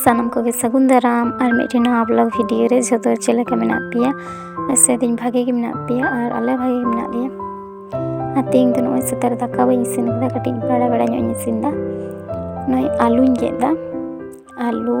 ᱥᱟᱱᱟᱢ ᱠᱚᱜᱮ ᱥᱟᱹᱜᱩᱱ ᱫᱟᱨᱟᱢ ᱟᱨ ᱢᱤᱫᱴᱮᱱ ᱱᱚᱣᱟ ᱵᱞᱚᱜ ᱵᱷᱤᱰᱤᱭᱳ ᱨᱮ ᱡᱷᱚᱛᱚ ᱪᱮᱫ ᱞᱮᱠᱟ ᱢᱮᱱᱟᱜ ᱯᱮᱭᱟ ᱥᱮᱫᱤᱧ ᱵᱷᱟᱜᱮ ᱜᱮ ᱢᱮᱱᱟᱜ ᱯᱮᱭᱟ ᱟᱨ ᱟᱞᱮ ᱵᱷᱟᱜᱮ ᱜᱮ ᱢᱮᱱᱟᱜ ᱞᱮᱭᱟ ᱟᱨ ᱛᱮᱦᱮᱧ ᱫᱚ ᱱᱚᱜᱼᱚᱭ ᱥᱮᱛᱟᱜ ᱨᱮ ᱫᱟᱠᱟ ᱵᱟᱹᱧ ᱤᱥᱤᱱ ᱠᱟᱫᱟ ᱠᱟᱹᱴᱤᱡ ᱵᱟᱲᱟ ᱵᱟᱲᱟ ᱧᱚᱜ ᱤᱧ ᱤᱥᱤᱱ ᱫᱟ ᱱᱚᱜᱼᱚᱭ ᱟᱹᱞᱩᱧ ᱜᱮᱫ ᱫᱟ ᱟᱹᱞᱩ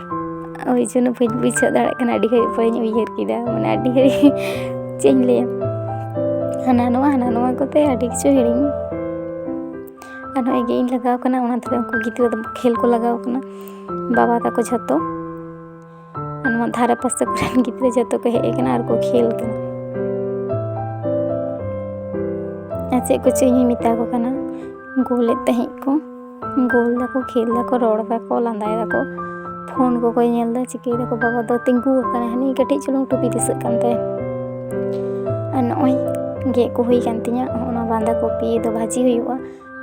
ᱳᱭ ᱡᱚᱱᱱᱚ ᱵᱟᱹᱧ ᱵᱩᱡᱷᱟᱹᱣ ᱫᱟᱲᱮᱭᱟᱜ ᱠᱟᱱᱟ ᱟᱹᱰᱤ ᱜᱷᱟᱹᱲᱤᱡ ᱯᱚᱨᱮᱧ ᱩᱭᱦᱟᱹᱨ ᱠᱮᱫᱟ ᱢᱟᱱᱮ ᱟᱹᱰᱤ ᱜᱷᱟᱹᱲᱤᱡ ᱪᱮᱫ ᱤᱧ ᱞᱟᱹᱭᱟ ᱦᱟᱱᱟ ᱱᱚᱣᱟ ᱦᱟᱱᱟ ᱱᱚᱣᱟ ᱠᱚᱛᱮ ᱟᱹᱰᱤ ᱠᱤᱪᱷᱩ ᱦᱤᱲᱤᱧ ᱟᱨ ᱱᱚᱜᱼᱚᱭ ᱜᱮ ᱤᱧ ᱞᱟᱜᱟᱣ ᱠᱟᱱᱟ ᱚᱱᱟ ᱛᱮ ᱩᱱᱠᱩ ᱜᱤᱫᱽᱨᱟᱹ ᱫᱚ ᱠᱷᱮᱞ ᱠᱚ ᱞᱟᱜᱟᱣ ᱠᱟᱱᱟ ᱵᱟᱵᱟ ᱛᱟᱠᱚ ᱡᱷᱚᱛᱚ ᱟᱨ ᱱᱚᱣᱟ ᱫᱷᱟᱨᱮ ᱯᱟᱥᱮ ᱠᱚᱨᱮᱱ ᱜᱤᱫᱽᱨᱟᱹ ᱡᱷᱚᱛᱚ ᱠᱚ ᱦᱮᱡ ᱠᱟᱱᱟ ᱟᱨ ᱠᱚ ᱠᱷᱮᱞ ᱠᱟᱱᱟ ᱟᱨ ᱪᱮᱫ ᱠᱚᱪᱚ ᱤᱧ ᱢᱮᱛᱟ ᱠᱚ ᱠᱟᱱᱟ ᱜᱳᱞᱮᱫ ᱛᱟᱦᱮᱸᱫ ᱠᱚ ᱜᱳᱞ ᱫᱟᱠᱚ ᱠᱷᱮᱞ ᱫᱟᱠᱚ ᱨᱚᱲ ᱫᱟᱠᱚ ᱞᱟᱸᱫᱟᱭ ᱫᱟᱠᱚ ᱯᱷᱳᱱ ᱠᱚᱠᱚ ᱧᱮᱞ ᱫᱟ ᱪᱤᱠᱟᱹᱭ ᱫᱟᱠᱚ ᱵᱟᱵᱟ ᱫᱚ ᱛᱤᱸᱜᱩ ᱟᱠᱟᱱᱟ ᱦᱟᱹᱱᱤ ᱠᱟᱹᱴᱤᱡ ᱪᱩᱞᱩᱝ ᱴᱩᱯᱤ ᱫᱤᱥᱟᱹᱜ ᱠᱟᱱ ᱛᱟᱭᱟ ᱟᱨ ᱱᱚᱜᱼᱚᱭ ᱜᱮᱫ ᱠᱚ ᱦᱩᱭ ᱠᱟᱱ ᱛᱤᱧᱟᱹ ᱚᱱᱟ ᱵᱟᱸᱫᱷᱟ ᱠᱚᱯᱤ ᱫᱚ ᱵᱷᱟᱹᱡᱤ ᱦᱩᱭᱩᱜᱼᱟ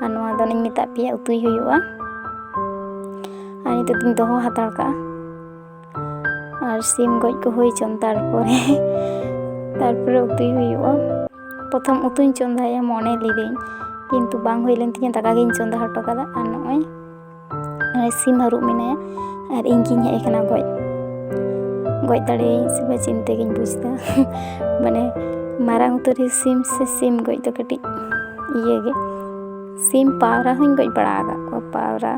ᱟᱨ ᱱᱚᱣᱟ ᱫᱚᱧ ᱢᱮᱛᱟᱫ ᱯᱮᱭᱟ ᱩᱛᱩᱭ ᱦᱩᱭᱩᱜᱼᱟ ᱟᱨ ᱱᱤᱛᱚᱜ ᱫᱚᱧ ᱫᱚᱦᱚ ᱦᱟᱛᱟᱲ ᱠᱟᱜᱼᱟ ᱟᱨ ᱥᱤᱢ ᱜᱚᱡ ᱠᱚ ᱦᱩᱭ ᱪᱚᱱ ᱛᱟᱨᱯᱚᱨᱮ ᱛᱟᱨᱯᱚᱨᱮ ᱩᱛᱩᱭ ᱦᱩᱭᱩᱜᱼᱟ ᱯᱨᱚᱛᱷᱚᱢ ᱩᱛᱩᱧ ᱪᱚᱸᱫᱟᱭᱟ ᱢᱚᱱᱮ ᱞᱤᱫᱟᱹᱧ ᱠᱤᱱᱛᱩ ᱵᱟᱝ ᱦᱩᱭ ᱞᱮᱱ ᱛᱤᱧᱟᱹ ᱫᱟᱠᱟ ᱜᱤᱧ ᱪᱚᱸᱫᱟ ᱦᱚᱴᱚ ᱠᱟᱫᱟ ᱟᱨ ᱱᱚᱜᱼᱚᱭ ᱥᱤᱢ ᱦᱟᱹᱨᱩᱵ ᱢᱮᱱᱟᱭᱟ ᱟᱨ ᱤᱧ ᱜᱤᱧ ᱦᱮᱡ ᱟᱠᱟᱱᱟ ᱜᱚᱡ ᱜᱚᱡ ᱫᱟᱲᱮᱭᱟᱹᱧ ᱥᱮ ᱵᱟᱝ ᱪᱤᱱᱛᱟᱹ ᱜᱤᱧ ᱵᱩᱡᱽᱫᱟ ᱢᱟᱱᱮ ᱢᱟᱨᱟᱝ ᱩᱛᱟᱹᱨᱤᱡ ᱥᱤᱢ ᱥᱮ ᱥᱤᱢ ᱜᱚᱡ ᱫᱚ ᱠᱟᱹᱴᱤᱡ ᱤᱭᱟᱹ ᱜᱮ ᱥᱤᱢ ᱯᱟᱣᱨᱟ ᱦᱚᱸᱧ ᱜᱚᱡ ᱵᱟᱲᱟ ᱟᱠᱟᱫ ᱠᱚᱣᱟ ᱯᱟᱣᱨᱟ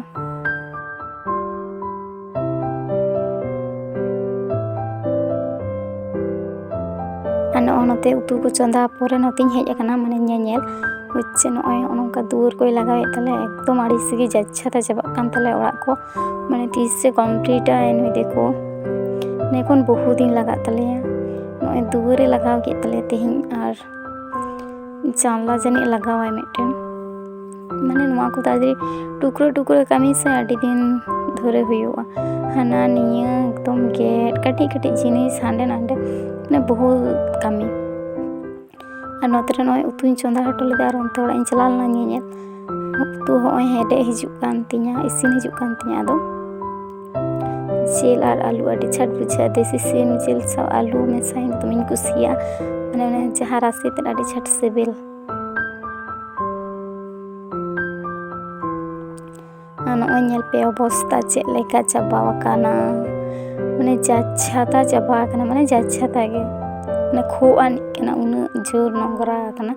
ᱟᱨ ᱱᱚᱜᱼᱚᱭ ᱱᱚᱛᱮ ᱩᱛᱩ ᱠᱚ ᱪᱚᱸᱫᱟ ᱯᱚᱨᱮ ᱱᱚᱛᱮᱧ ᱦᱮᱡ ᱟᱠᱟᱱᱟ ᱢᱟᱱᱮ ᱧᱮᱧᱮᱞ ᱦᱚᱪᱪᱷᱮ ᱱᱚᱜᱼᱚᱭ ᱱᱚᱝᱠᱟ ᱫᱩᱣᱟᱹᱨ ᱠᱚᱭ ᱞᱟᱜᱟᱣᱮᱫ ᱛᱟᱞᱮ ᱮᱠᱫᱚᱢ ᱟᱹᱲᱤᱥ ᱜᱮ ᱡᱟᱪᱪᱷᱟᱛᱟ ᱪᱟᱵᱟᱜ ᱠᱟᱱ ᱛᱟᱞᱮ ᱚᱲᱟᱜ ᱠᱚ ᱢᱟᱱᱮ ᱛᱤᱥᱮ ᱠᱚᱢᱯᱞᱤᱴᱟ ᱱᱩᱭ ᱫᱮᱠᱚ ᱮᱠᱷᱚᱱ ᱵᱚᱦᱩ ᱫᱤᱱ ᱞᱟᱜᱟᱜ ᱛᱟᱞᱮᱭᱟ ᱱᱚᱜᱼᱚᱭ ᱫᱩᱣᱟᱹᱨᱮ ᱞᱟᱜᱟᱣ ᱠᱮᱫ ᱛᱟᱞᱮᱭᱟ ᱛᱮᱦᱮᱧ ᱟᱨ ᱡᱟᱱᱞᱟ ᱡᱟᱹᱱᱤᱡ ᱞᱟᱜᱟᱣᱟᱭ ᱢᱤᱫᱴᱮᱱ ᱢᱟᱱᱮ ᱱᱚᱣᱟ ᱠᱚ ᱛᱟᱲᱟᱛᱟᱲᱤ ᱴᱩᱠᱨᱟᱹ ᱴᱩᱠᱨᱟᱹ ᱠᱟᱹᱢᱤ ᱥᱮ ᱟᱹᱰᱤ ᱫᱤᱱ ᱫᱷᱚᱨᱮ ᱦᱩᱭᱩᱜᱼᱟ ᱦᱟᱱᱟ ᱱᱤᱭᱟᱹ ᱮᱠᱫᱚᱢ ᱜᱮᱫ ᱠᱟᱹᱴᱤᱡ ᱠᱟᱹᱴᱤᱡ ᱡᱤᱱᱤᱥ ᱦᱟᱸᱰᱮ ᱱᱟᱰᱮ ᱢᱟᱱᱮ ᱵᱚᱦᱩ ᱠᱟᱹᱢᱤ ᱟᱨ ᱱᱚᱛᱮ ᱨᱮ ᱱᱚᱜᱼᱚᱭ ᱩᱛᱩᱧ ᱪᱚᱸᱫᱟ ᱦᱚᱴᱚ ᱞᱮᱫᱟ ᱟᱨ ᱚᱱᱛᱮ ᱚᱲᱟᱜ ᱤᱧ ᱪᱟᱞᱟᱣ ᱞᱮᱱᱟ ᱧᱮᱧᱮᱞ ᱩᱛᱩ ᱦᱚᱸᱜᱼᱚᱭ ᱦᱮᱰᱮᱡ ᱦᱤᱡᱩᱜ ᱠᱟᱱ ᱛᱤᱧᱟ ᱤᱥᱤᱱ ᱦᱤᱡᱩᱜ ᱠᱟᱱ ᱛᱤᱧᱟ ᱟᱫᱚ ᱡᱤᱞ ᱟᱨ ᱟᱹᱞᱩ ᱟᱹᱰᱤ ᱪᱷᱟᱴ ᱵᱩᱡᱷᱟᱹᱜᱼᱟ ᱫᱮᱥᱤ ᱥᱤᱢ ᱡᱤᱞ ᱥᱟᱶ ᱟᱹᱞᱩ ᱢᱮᱥᱟᱧ ᱫᱚᱢᱮᱧ ᱠᱩᱥᱤᱭᱟᱜᱼᱟ ᱢᱟᱱᱮ ᱚᱱᱮ ᱡᱟᱦᱟᱸ ᱨᱟᱥᱮ ᱛᱮᱫ ᱟᱹᱰᱤ ᱪᱷᱟᱴ ᱥᱤᱵᱤᱞ ᱱᱚᱜᱼᱚᱭ ᱧᱮᱞ ᱯᱮ ᱚᱵᱚᱥᱛᱟ ᱪᱮᱫ ᱞᱮᱠᱟ ᱪᱟᱵᱟ ᱟᱠᱟᱱᱟ ᱢᱟᱱᱮ ᱡᱟᱪᱷᱟᱛᱟ ᱪᱟᱵᱟ ᱟᱠᱟᱱᱟ ᱢᱟᱱᱮ ᱡᱟᱪᱷᱟᱛᱟ ᱜᱮ ᱢᱟᱱᱮ ᱠᱷᱳ ᱟᱹᱱᱤᱡ ᱠᱟᱱᱟ ᱩᱱᱟᱹᱜ ᱡᱳᱨ ᱱᱚᱝᱨᱟ ᱟᱠᱟᱱᱟ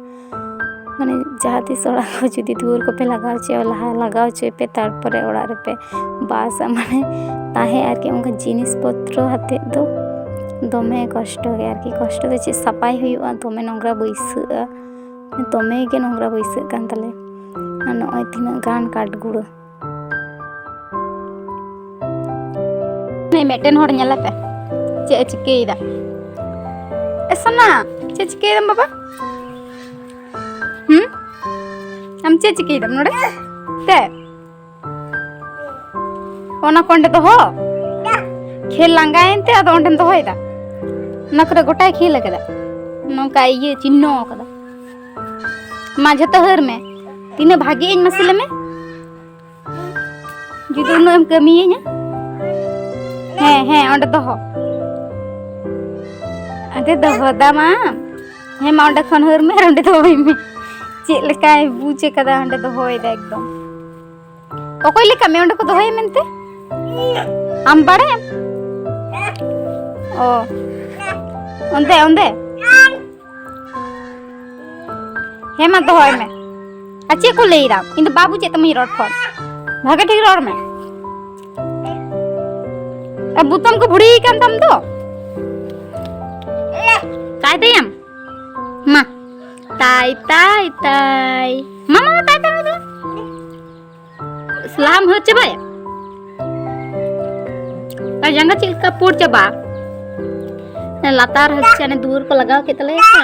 ᱢᱟᱱᱮ ᱡᱟᱦᱟᱸ ᱛᱤᱥ ᱚᱲᱟᱜ ᱠᱚ ᱡᱩᱫᱤ ᱫᱩᱣᱟᱹᱨ ᱠᱚᱯᱮ ᱞᱟᱜᱟᱣ ᱦᱚᱪᱚᱭᱟ ᱞᱟᱦᱟ ᱞᱟᱜᱟᱣ ᱦᱚᱪᱚᱭ ᱯᱮ ᱛᱟᱨᱯᱚᱨᱮ ᱚᱲᱟᱜ ᱨᱮᱯᱮ ᱵᱟᱥ ᱢᱟᱱᱮ ᱛᱟᱦᱮᱸ ᱟᱨᱠᱤ ᱚᱱᱠᱟ ᱡᱤᱱᱤᱥ ᱯᱚᱛᱨᱚ ᱟᱛᱮᱫ ᱫᱚ ᱫᱚᱢᱮ ᱠᱚᱥᱴᱚ ᱜᱮᱭᱟ ᱟᱨᱠᱤ ᱠᱚᱥᱴᱚ ᱫᱚ ᱪᱮᱫ ᱥᱟᱯᱟᱭ ᱦᱩᱭᱩᱜᱼᱟ ᱫᱚᱢᱮ ᱱᱚᱝᱨᱟ ᱵᱟᱹᱭᱥᱟᱹᱜᱼᱟ ᱫᱚᱢᱮ ᱜᱮ ᱱᱚᱝᱨᱟ ᱵᱟᱹᱭᱥᱟᱹᱜ ᱠᱟᱱ ᱛᱟᱞᱮᱭᱟ ᱟᱨ ᱱᱚᱜᱼᱚᱭ ᱛᱤᱱᱟᱹᱜ ᱜᱟᱱ ᱠᱟᱴᱜᱩᱲᱟᱹ ᱢᱤᱫᱴᱮᱱ ᱦᱚᱲ ᱧᱮᱞᱮ ᱯᱮ ᱪᱮᱫ ᱮ ᱪᱤᱠᱟᱹᱭᱮᱫᱟ ᱮ ᱥᱚᱱᱟ ᱪᱮᱫ ᱪᱤᱠᱟᱹᱭᱮᱫᱟᱢ ᱵᱟᱵᱟ ᱦᱩᱸ ᱟᱢ ᱪᱮᱫ ᱪᱤᱠᱟᱹᱭᱮᱫᱟᱢ ᱱᱚᱰᱮ ᱛᱮ ᱚᱱᱟ ᱠᱚ ᱚᱸᱰᱮ ᱫᱚᱦᱚ ᱠᱷᱮᱞ ᱞᱟᱸᱜᱟᱭᱮᱱ ᱛᱮ ᱟᱫᱚ ᱚᱸᱰᱮᱢ ᱫᱚᱦᱚᱭᱮᱫᱟ ᱚᱱᱟ ᱠᱚᱨᱮ ᱜᱚᱴᱟᱭ ᱠᱷᱮᱞ ᱟᱠᱟᱫᱟ ᱱᱚᱝᱠᱟ ᱤᱭᱟᱹ ᱪᱤᱱᱦᱚ ᱟᱠᱟᱫᱟ ᱢᱟ ᱡᱷᱚᱛᱚ ᱦᱟᱹᱨ ᱢᱮ ᱛᱤᱱᱟᱹᱜ ᱵᱷᱟᱜᱮ ᱤᱧ ᱢᱟᱥᱮ ᱞᱮᱢᱮ ᱡᱩᱫᱤ ᱩᱱᱟᱹᱜ ᱮᱢ ᱠᱟᱹᱢᱤᱭᱟᱹᱧᱟ ᱦᱮᱸ ᱦᱮᱸ ᱚᱸᱰᱮ ᱫᱚᱦᱚ ᱟᱫᱮ ᱫᱚᱦᱚ ᱫᱟᱢ ᱟᱢ ᱦᱮᱸ ᱢᱟ ᱚᱸᱰᱮ ᱠᱷᱚᱱ ᱦᱟᱹᱨ ᱢᱮ ᱟᱨ ᱚᱸᱰᱮ ᱫᱚᱦᱚᱭ ᱢᱮ ᱪᱮᱫ ᱞᱮᱠᱟᱭ ᱵᱩᱡᱽ ᱟᱠᱟᱫᱟ ᱚᱸᱰᱮ ᱫᱚᱦᱚᱭᱮᱫᱟ ᱮᱠᱫᱚᱢ ᱚᱠᱚᱭ ᱞᱮᱠᱟ ᱢᱮ ᱚᱸᱰᱮ ᱠᱚ ᱫᱚᱦᱚᱭᱟ ᱢᱮᱱᱛᱮ ᱟᱢ ᱵᱟᱲᱟᱭᱟᱢ ᱚ ᱚᱸᱰᱮ ᱚᱸᱰᱮ ᱦᱮᱸ ᱢᱟ ᱫᱚᱦᱚᱭ ᱢᱮ ᱟᱨ ᱪᱮᱫ ᱠᱚ ᱞᱟᱹᱭᱫᱟ ᱤᱧ ᱫᱚ ᱵᱟᱵᱩ ᱪᱮᱫ ᱛᱟᱢᱤᱧ ᱨᱚᱲ ᱠᱷᱚᱱ ᱵᱷᱟᱜᱮ ᱴᱷᱤᱠ ᱨᱚᱲ ᱢᱮ ᱟᱨ ᱵᱩᱛᱟᱢ ᱠᱚ ᱵᱷᱩᱲᱤ ᱠᱟᱱ ᱛᱟᱢ ᱫᱚ ᱛᱟᱭ ᱛᱟᱭᱟᱢ ᱢᱟ ᱛᱟᱭ ᱛᱟᱭ ᱛᱟᱭ ᱢᱟ ᱢᱟ ᱛᱟᱭ ᱛᱟᱭ ᱫᱚ ᱥᱞᱟᱢ ᱦᱚ ᱪᱟᱵᱟᱭ ᱛᱟᱭ ᱡᱟᱸᱜᱟ ᱪᱮᱫ ᱞᱮᱠᱟ ᱯᱩᱨ ᱪᱟᱵᱟ ᱞᱟᱛᱟᱨ ᱦᱚᱪᱪᱟᱱᱮ ᱫᱩᱣᱟᱹᱨ ᱠᱚ ᱞᱟᱜᱟᱣ ᱠᱮᱫ ᱛᱟᱞᱮᱭᱟ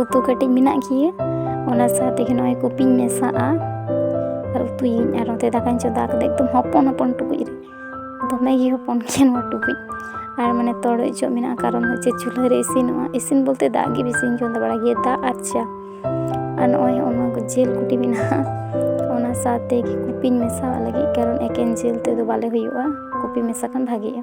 ᱩᱛᱩ ᱠᱟᱹᱴᱤᱡ ᱢᱮᱱᱟᱜ ᱜᱮᱭᱟ ᱚᱱᱟ ᱥᱟᱶ ᱛᱮᱜᱮ ᱱᱚᱜᱼᱚᱭ ᱠᱚᱯᱤᱧ ᱢᱮᱥᱟᱜᱼᱟ ᱟᱨ ᱩᱛᱩᱭᱟᱹᱧ ᱟᱨ ᱱᱚᱛᱮ ᱫᱟᱠᱟᱧ ᱪᱚᱸᱫᱟ ᱠᱟᱛᱮ ᱮᱠᱫᱚᱢ ᱦᱚᱯᱚᱱ ᱦᱚᱯᱚᱱ ᱴᱩᱠᱩᱡ ᱨᱮ ᱫᱚᱢᱮ ᱜᱮ ᱦᱚᱯᱚᱱ ᱜᱮᱭᱟ ᱱᱚᱣᱟ ᱴᱩᱠᱩᱡ ᱟᱨ ᱢᱟᱱᱮ ᱛᱚᱲᱚᱡ ᱚᱪᱚᱜ ᱢᱮᱱᱟᱜᱼᱟ ᱠᱟᱨᱚᱱ ᱦᱚᱪᱪᱷᱮ ᱪᱩᱞᱦᱟᱹ ᱨᱮ ᱤᱥᱤᱱᱚᱜᱼᱟ ᱤᱥᱤᱱ ᱵᱚᱞᱛᱮ ᱫᱟᱜ ᱜᱮ ᱵᱮᱥᱤᱧ ᱪᱚᱸᱫᱟ ᱵᱟᱲᱟᱭ ᱜᱮᱭᱟ ᱫᱟᱜ ᱟᱨ ᱪᱟ ᱟᱨ ᱱᱚᱜᱼᱚᱭ ᱚᱱᱟ ᱡᱤᱞ ᱠᱩᱴᱤ ᱢᱮᱱᱟᱜᱼᱟ ᱚᱱᱟ ᱥᱟᱶ ᱛᱮᱜᱮ ᱠᱚᱯᱤᱧ ᱢᱮᱥᱟᱣᱟᱜ ᱞᱟᱹᱜᱤᱫ ᱠᱟᱨᱚᱱ ᱮᱠᱮᱱ ᱡᱤᱞ ᱛᱮᱫᱚ ᱵᱟᱞᱮ ᱦᱩᱭᱩᱜᱼᱟ ᱠᱚᱯᱤ ᱢᱮᱥᱟ ᱠᱷᱟᱱ ᱵᱷᱟᱜᱮᱜᱼᱟ